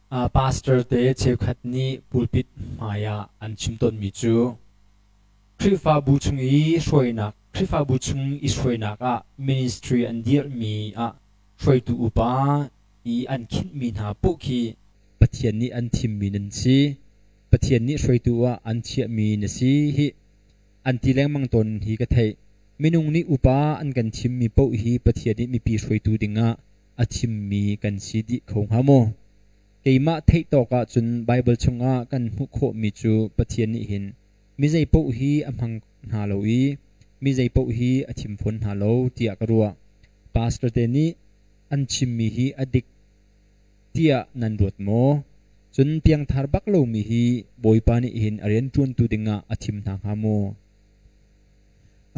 Pastor te cheukhat nih pulpit hmai ah an chim tawnmi cu Khrihfabu chung i hruainak Khrihfabu chung i hruainak ah ministry an dirhmi ah hruaitu upa i an khinhmi hna paoh khi Pathian nih an thimmi nan si, Pathian nih hruaitu ah an chiahmi na si hih, an ti lengmang tawn hi ka theih. Minung nih upa an kan thimmi paoh hi Pathian nih mipi hruaitu dingah a thimmi kan si dih kho hnga maw? Keimah theih tawk ahcun Baibal chungah kan hmuh khawhmi cu Pathian nih hin mi zeipaoh hi a hmang hna lo i mi zeipaoh hi a thim fawn hna lo tiah ka ruah. Pastor te nih an chimmi hi a dik tiah nan ruat maw? Cun piangthar bak lomi hi Bawipa nih hin a rianṭuantu dingah a thim hna hnga maw?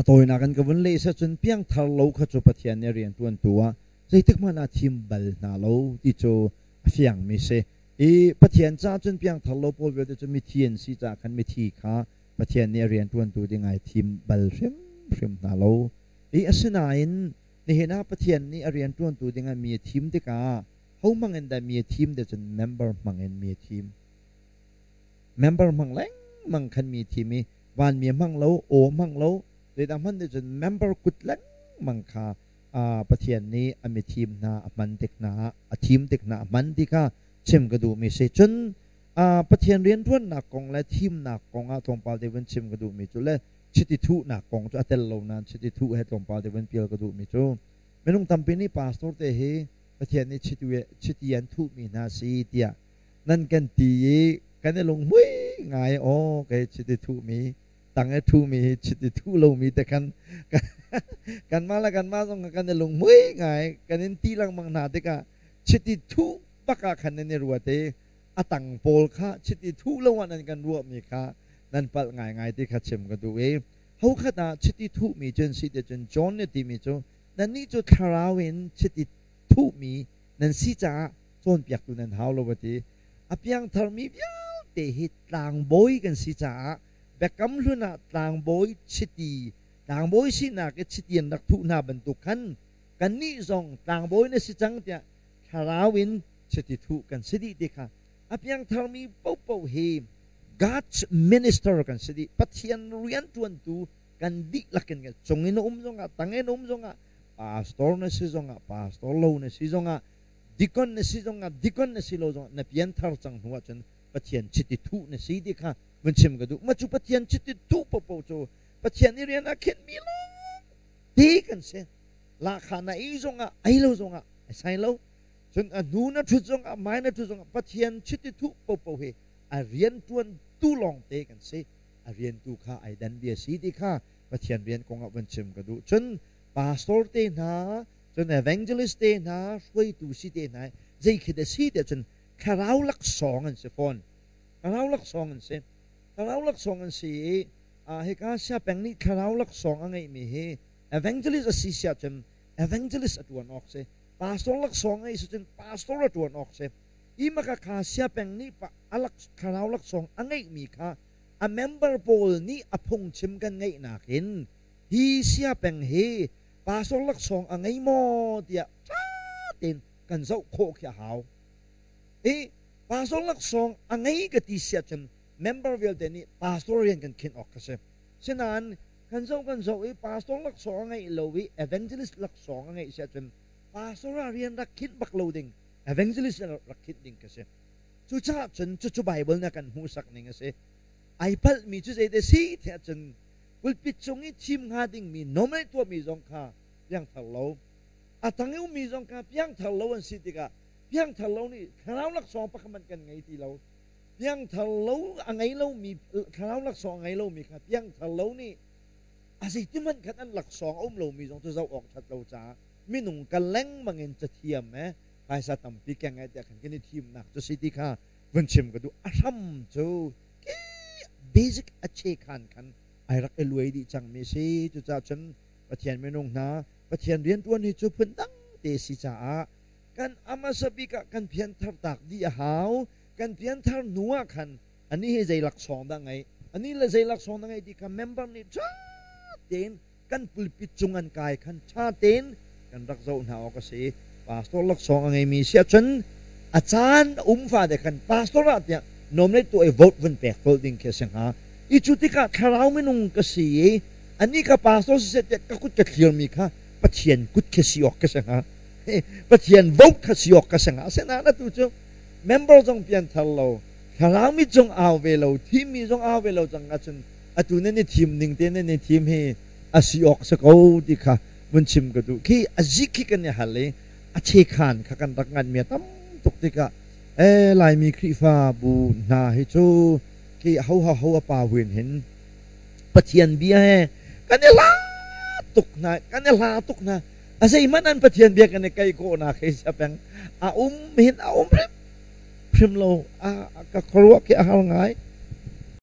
A tawinak an ka vun leh seh cun piangthar lo kha cu Pathian nih a rianṭuantu ah zeitikhmanh ah thim bal hna lo ti cu a fiangmi si. I Pathian caah cun piangthar lo pawl vialte cu mithi an si caah khan mithi kha Pathian nih a rianṭuantu ding ai thim bal hrimhrim hna lo. I asinain nihin ah Pathian nih a rianṭuantu dingah mi a thim tikah hohmang in dah mi a thim te cun member hmang in mi a thim. member hmang lengmang khan mi thim i vanmi hmang lo aw hmang lo zeidah hman nih cun member kut lengmang kha pathian nih a mi thim hna a hman tik hna a thim tik hna a hman ti kha chim ka duhmi si cun pathian rianṭuannak kong le thimnak kong ah tlawmpal te vun chim ka duhmi cu le chiti thuhnak kong cu a tel lo nain chiti thuh he tlawmpal te vun pial ka duhmi cu minung tampi nih pastor te hi pathian nih chiti an thuhmi hna si tiah nan kan ti i kan i lunghmui ngai aw kei chit i thuhmi tang i thuhmi hi chit i thuh lomi te khan kanmah le kanmah zong kan i lunghmui ngai kan in ti lengmang hna tikah chit i thuh bak ah khan nan i ruat i a tang pawl kha chit i thuh lo ah nan kan ruahmi kha nan palh ngaingai ti kha chim ka duh i hokhat ah chiti thuhmi cun si ti cun John nih timi cu nannih cu thlarau in chiti thuhmi nan si caah cawnpiaktu nan hau lo a ti. A piangtharmi vialte hi tlangbawi kan si caah Biakam Hlun ah tlangbawi chiti, tlangbawi sinak i chiti an rak thuh hna bantuk khan kannih zong tlangbawi na si cang tiah thlarau in chiti thuh kan si dih ti kha a piangtharmi paohpaoh hi God's minister kan si dih. Pathian rianṭuantu kan dihlak in kan cung in a um zongah, tang in a um zongah, pastor na si zongah, pastor lo na si zongah, Dikon na si zongah dikon na si lo zongah na pianthar cang hnu ahcun Pathian chiti thuh na si ti kha vun chim ka duh. Mah cu Pathian chiti thuh paohpaoh cu Pathian i rian ah khenhmi lawngte kan si. Lahkhah na ei zongah, ei lo zongah ai sai lo. Cun a hnu na ṭhut zongah, mai na ṭhut zongah Pathian chiti thuh paohpaoh hi a rianṭuantu lawngte kan si. A riantu kha ai dan bia si ti kha Pathian rian kongah vun chim ka duh. Cun pastor te hna, Cun evangelist te hna, hruaitu si te hna i zeikhi dah si tiah cun thlarau laksawng an si fawn. Thlarau laksawng an si. Thlarau laksawng an si i hika siapeng nih thlarau laksawng a ngeihmi hi evangelist a si si ahcun evangelist a ṭuan awk si, pastor laksawng a ngeih si cun pastor a ṭuan awk si. Hi makakha siapeng nih thlarau laksawng a ngeihmi kha a member pawl nih a phungchim kan ngeihnak in hi siapeng hi pastor laksawng a ngei maw tiah ṭha tein kan zoh khawh khi a hau. I pastor laksawng a ngei ka ti siah cun member vialte nih pastor rian kan khin awk ka si. Sinain kan zoh kan zoh i pastor laksawng a ngei lo i evangelist laksawng a ngeih siah cun pastor ah rian rak khinh bak lo ding evangelist rak khinh ding ka si. Cucaah cun cucu Baibal nih a kan hmuhsak ning a si. Ai palhmi cu zeidah si tiah cun pulpit cung i thim hnga dingmi nawmei tuahmi zong kha piangthar lo, a tang i ummi zong kha piangthar lo an si tikah piangthar lo nih thlarau laksawng pakhat hmanh kan ngei ti lo. Piangthar lo a ngei lomi thlarau laksawng a ngei lomi kha piangthar lo nih a zeitihmanh khan an laksawng a um lomi zong cu zoh awk ṭhat lo caah minung kal lengmang in cathiam e phaisa tampi keng e tiah khan kan i thimnak cu si ti kha vun chim ka duh a hram cu basic a che khan khan ai rak i luai dih cangmi si cucaah cun Pathian minung hna Pathian rianṭuan hi cu phundang te si caah kan a hmasa bik ah kan pianthar tak dih a hau kan pianthar hnu ah khan ani hi zei laksawng dah ngei ani le zei laksawng dah ngei ti kha member nih ṭha tein kan pulpit cung an kai khan ṭha tein kan rak zoh hna awk a si i pastor laksawng a ngeimi si ahcun a caan a um fate khan pastor ah tiah nominate tu ei vote vun pek tol ding khi a si hnga i cu tikah thlarau minung ka si i anih ka pastor si seh tiah ka kut ka thlirmi kha pathian kut khi si awk ka si hnga pathian vote kha si awk ka si hnga asinain atu cu member zong pian thar lo thlarau mi cung au ve lo thimi zong au ve lo cang ahcun atu nan i thim ning te nan i thim hi a si awk si ko ti kha vun chim ka duh khi a zik khi kan i hal i a chekhan kha kan rak ngan mi tam tuk tikah e laimi khrifa bu hna hi cu khi ho ha ho a pa huin hin pathian bia he kan i la tuk hna kan i la tuk hna a sei man an pathian bia kan i kai ko na khi sapeng a um hin a um rem phrim lo a ka khuaruah khi a hal ngai